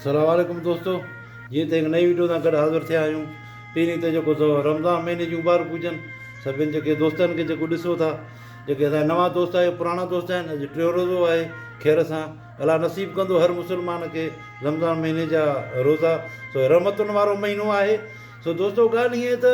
سلام عليڪم دوستو جيئن ته هڪ نئين ويڊيو سان گڏ حاضر ٿيا آهيون پهرين ته جيڪو سو رمضان مهيني جون مبارڪ هجن سڀني جيڪي دوستن کي جيڪو ڏسو ٿا جيڪي اسان نوان دوست آهي پراڻا دوست آهن اڄ ٽيون روزو آهي خير سان الا نصيب ڪندو هر مسلمان کي رمضان مهيني جا روزا سو رحمتن وارو مهينو آهي سو دوستو ڳالهه هيئن ته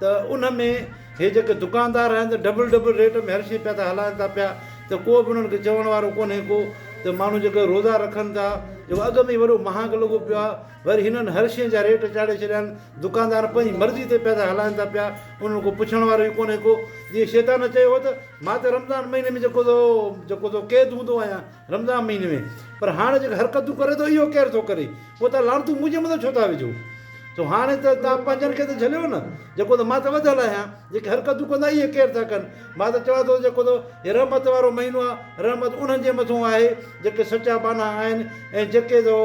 ته ان ۾ هي جيڪي دڪاندار آهن ته ڊبل ڊبل ريٽ ۾ هر شي پيا ٿا هلائن ٿا پيا ته ڪو به انهن کي چوڻ وارو ڪونهي ڪو ته ماڻهو جيڪي روزا رکن ٿا جيڪو اڳ ۾ وڏو مهانگ لڳو پيو آهي وري هنن هر شي جا ريٽ چاڙهي ڇڏيا آهن دڪاندار پنهنجي مرضي تي پيا ٿا هلائن ٿا پيا انهن کي پڇڻ وارو ئي ڪونهي ڪو جيئن شيطان چيو هو ته مان ته رمضان مهيني ۾ جيڪو ٿو جيڪو ٿو قيد هوندو آهيان رمضان مھيني ۾ پر ھاڻي جيڪي حرڪتون ڪري ٿو اھو ڪير ٿو ڪري پوء تھان لعنتون منھنجي مٿان ڇو ٿا وجھو سو ھاڻي ته تھان پنھنجن کي ته جھليو نه جيڪو ته مان ته وڌل آھيان جيڪي حرڪتون ڪندا اھي ڪير ٿا ڪن مان ته چوان ٿو جيڪو ته ھي رحمت وارو مھينو آھي رحمت انھن جي مٿو آھي جيڪي سچا بانھا آھن ۽ جيڪي ته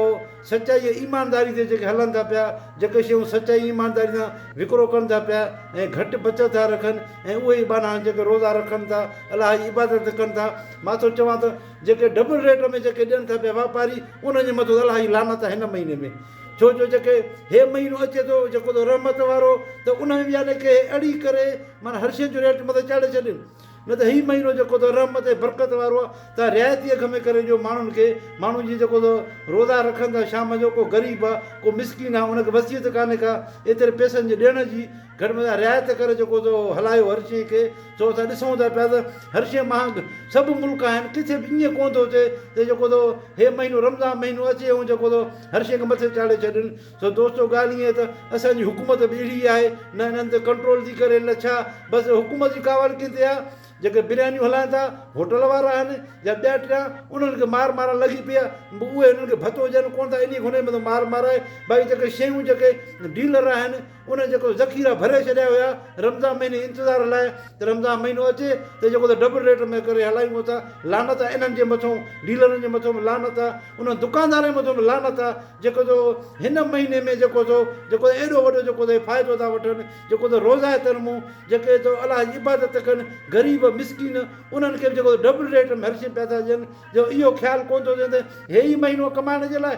سچائي ۽ ايمانداري تي جيڪي هلن ٿا پيا، جيڪي شيون سچائي ۽ ايمانداري سان وڪرو ڪن ٿا پيا ۽ گهٽ بچت ٿا رکن ۽ اهي ئي ٻانها جيڪي روزا رکن ٿا، الله جي عبادت ڪن ٿا، مان ٿو چوان ته جيڪي ڊبل ريٽ ۾ جيڪي ڏين ٿا پيا واپاري انهن جي مٿس الله جي لعنت آهي هن مهيني ۾، ڇو جو جيڪي هي مهينو اچي ٿو جيڪو ته رحمت وارو ته ان ۾ به يعنيٰ ڪي اهڙي ڪري معنيٰ هر شين جو ريٽ مٿي چاڙهي ڇڏين. نه ته هي مهينو جيڪو ته رحمت ۽ برڪت وارو آ تنهن رعايتي اگهه ۾ ڪري ڏيو ماڻهن کي ماڻهو جي جيڪو ته روزا رکن ٿا شام جو ڪو غريب آ ڪو مسڪين آ ان کي وصيت ڪانهي ڪا ايتري پئسن جي ڏيڻ جي گهٽ ۾ گهٽ رعايت ڪري جيڪو ته هلايو هر شئي کي ڇو اسان ڏسون ٿا پيا ته هر شئي مهانگ سڀ ملڪ آهن ڪٿي به ائين ڪونه ٿو ٿئي ته جيڪو ته هي مهينو رمضان مهينو اچي ۽ جيڪو ته هر شئي کي مٿي چاڙهي ڇڏين. ته دوستو ڳالهه ائين ته اسان جي حڪومت به اهڙي ئي آهي نه انهن تي ڪنٽرول ٿي ڪري نه ڇا بس حڪومت جي ڪاوڙ ڪن تي آهي جيڪي بريانيون هلائين ٿا هوٽل وارا آهن يا ٻيا ٽيا انهن کي مار مارڻ لڳي پئي آهي به اهي انهن کي ڀتو ڏين ڪونه ٿا انهي کوني مطلب مار مارائي باقي جيڪي شيون جيڪي ڊيلر آهن انهن جيڪو ذخيرا ڀري ڇڏيا هيا رمضان مهيني انتظار لاء ته رمضان مهينو اچي ته جيڪو ته ڊبل ريٽ ۾ ڪري هلايون اٿا لعنت آهي انهن جي مٿو ڊيلرن جي مٿو به لعنت آهي انهن دڪاندارن جي مٿو به لعنت آهي جيڪو جو هن مهيني ۾ جيڪو جو جيڪو جو ايڏو وڏو جيڪو جو فائدو ٿا وٺن جيڪو جو روزه تر مون جيڪي جو الله جي عبادت ڪن غريب مسڪين انهن کي به جيڪو جو ڊبل ريٽ ۾ هر شي پيا ٿا ڏين جو اهو خيال ڪونه ٿو ٿين ته هي ئي مهينو ڪمائڻ جي لاء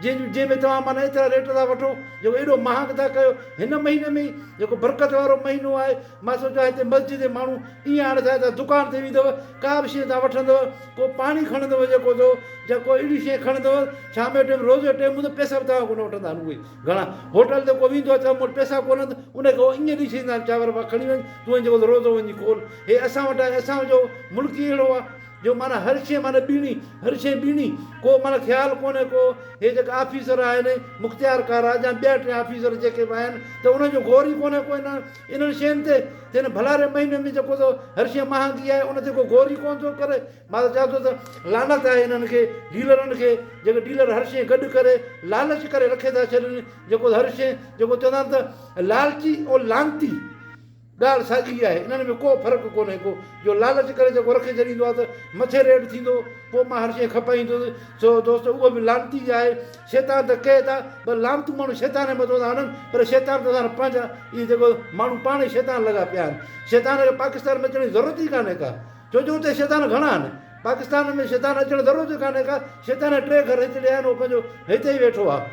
جن جنهن ۾ توهان معنيٰ ايترا ريٽ ٿا وٺو جيڪو ايڏو مهانگ ٿا ڪيو هن مهيني ۾ ئي جيڪو برڪت وارو مهينو آهي مان سوچيو آ هتي مسجد جي ماڻهو ايئن آڻ ٿيا ته دڪان تي ويندو ڪا به شيء تان وٺندو ڪو پاڻي کڻندو جيڪو ٿو جا ڪو اهڙي شيء کڻندو شام جي ٽيم روز جو ٽيم هوندو پئسا به توهان کان ڪونه وٺندا آهن اهي گهڻا هوٽل تي ڪو ويندو چئبو مون وٽ پئسا ڪونه آهن ته ان کي هو ايئن ڏئي ڇڏيندا آهن چانور ڀا کڻي وڃ تون وڃ جيڪو ٿو روزو وڃي کول هي اسان وٽ آهي اسان جو ملڪ ئي اهڙو آ جو معنيٰ هر شيء معنيٰ ٻيڻي هر شيء ٻيڻي ڪو معنيٰ خيال ڪونه ڪو هي جيڪا آفيسر آهن مختيارڪار آ جا ٻيا ٽيا آفيسر جيڪي به آهن ته انهن جو غور ئي ڪونه ڪو هن انهن شين تي هن ڀلاري مهيني ۾ جيڪو ٿو هرشي مهانگي آهي ان تي ڪو غور ئي ڪونه ٿو ڪري مان ته چوان ٿو ته لعنت آهي انهن کي ڊيلرن کي جيڪي ڊيلر هرشي گڏ ڪري لالچ ڪري رکي ٿا ڇڏين جيڪو هرشي جيڪو چوندا آهن ته لالچي ۽ لعنتي ڳالهه ساڳي آهي انهن ۾ ڪو فرق ڪونهي ڪو جو لالچ ڪري جيڪو رکي ڇڏيندو آهي ته مٿي ريٽ ٿيندو پوء مان هرشي کپائيندس سو دوستو اهو به لعنتي آهي شيطان ته ڪهي ٿا پر لعنتون ماڻهو شيطان جي مٿو ٿا هڻن پر شيطان ته سارا پنهنجا اهي جيڪو ماڻهو پاڻ ئي شيطان لڳا پيا آهن شيطان کي پاڪستان ۾ اچڻ جي ضرورت ئي ڪانهي ڪا ڇو جو اتي شيطان گهڻا آهن پاڪستان ۾ شيطان اچڻ ضرورت ئي ڪانهي ڪا شيطان جا ٽي گهر هجڙي آهن اهو پنهنجو هتي ئي ويٺو آهي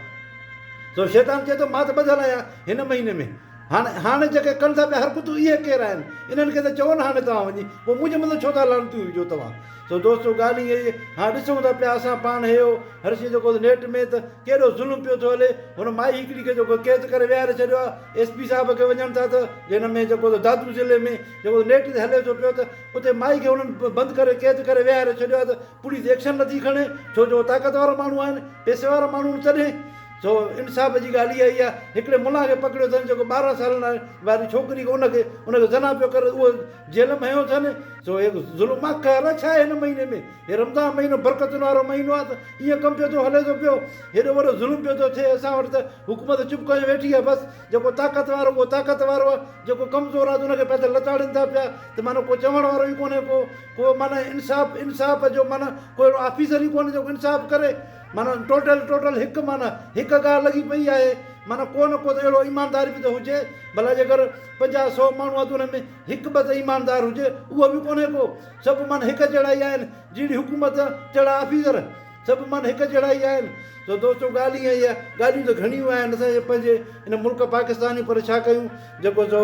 سو شيطان چئي ٿو مان ته ٻڌل آهيان هن مهيني ۾ هاڻي هاڻي جيڪي ڪن ٿا پيا حرڪتون اهي ڪير آهن انهن کي ته چئو نه هاڻي توهان وڃي پوء منهنجي مٿو ڇو ٿا لعنتيون وجهو توهان سو دوستو ڳالهه اها ئي هان ڏسون ٿا پيا اسان پاڻ هيو هر شي جيڪو نيٽ ۾ ته ڪيڏو ظلم پيو ٿو هلي هن مائي هڪڙي کي جيڪو قيد ڪري ويهاري ڇڏيو آ ايس پي صاحب کي وڃن ٿا ته جنهن ۾ جيڪو ته دادو ضلعي ۾ جيڪو نيٽ تي هلي ٿو پيو ته اتي مائي کي هنن بند ڪري قيد ڪري ويهاري ڇڏيو آ ته پوليس ايڪشن نٿي کڻي ڇو جو طاقت وارا ماڻهو آهن پيسي وارا ماڻهو آهن تڏهن سو انصاف جي ڳالهه اها ئي آ هڪڙي ملان کي پڪڙيو اٿن جيڪو ٻارهن سالن واري ڇوڪري کي ان کي ان کي زنا پيو ڪري اهو جيل ۾ هنيو اٿن سو هي ظلم آ قهر آ ڇا آهي هن مهيني ۾ هي رمضان مهينو برڪتن وارو مهينو آ ته ايئن ڪم پيو ٿو هلي ٿو پيو هيڏو وڏو ظلم پيو ٿو ٿئي اسان وٽ ته حڪومت چپ ڪري ويٺي آ بس جيڪو طاقت وارو اهو طاقت وارو آ جيڪو ڪمزور آ ته ان کي پيا ته لتاڙين ٿا پيا ته معنيٰ ڪو چوڻ وارو ئي ڪونهي ڪو ڪو معنيٰ انصاف انصاف جو معنيٰ ڪو اهڙو آفيسر ئي ڪونهي جيڪو انصاف ڪري معنيٰ ٽوٽل ٽوٽل هڪ معنيٰ هڪ ڳالهه لڳي پئي آهي معنيٰ ڪو نه ڪو ته اهڙو ايماندار به ته هجي ڀلا جيڪر پنجاهه سؤ ماڻهو آهن ته انهن ۾ هڪ ٻه ته ايماندار هجي اهو به ڪونهي ڪو. سڀ من هڪ جهڙا ئي آهن. جهڙي حڪومت تهڙا آفيسر. سڀ من هڪ جهڙا ئي آهن. سو دوستو ڳالهه ائين ئي آهي. ڳالهيون ته گهڻيون آهن اسان جي پنهنجي ان ملڪ پاڪستان جون پر ڇا ڪيون جيڪو سو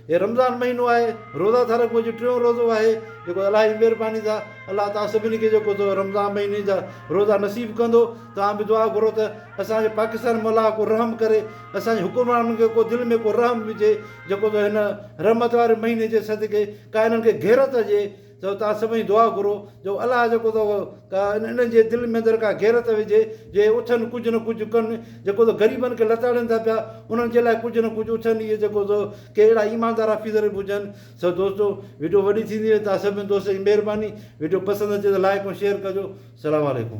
هي رمضان مهينو آهي روزا ٿا رکون اڄ ٽيون روزو آهي جيڪو الله جي مهرباني سان الله توهان سڀني کي جيڪو سو رمضان مهيني جا روزا نصيب ڪندو توهان به دعا گهرو ته اسان جي پاڪستان مولا ڪو رحم ڪري اسان جي حڪمرانن کي ڪو دل ۾ ڪو رحم هجي جيڪو تو هن رحمت واري مهيني جي صدقي ڪا انهن کي غيرت هجي تو توهان سڀئي دعا گهرو جو الله جيڪو تو ڪا انهن جي دل ۾ اندر ڪا غيرت وجهي جي اٿن ڪجهه نه ڪجهه ڪن جيڪو تو غريبن کي لتاڙين ٿا پيا انهن جي لاء ڪجهه نه ڪجهه اٿن اهي جيڪو تو ڪي اهڙا ايماندار حفيظ رب هجن سو دوستو وڊيو وڏي ٿيندي وئي توهان سڀني دوستن جي مهرباني وڊيو پسند اچي ته لائڪ ۽ شيئر ڪجو سلام عليڪم.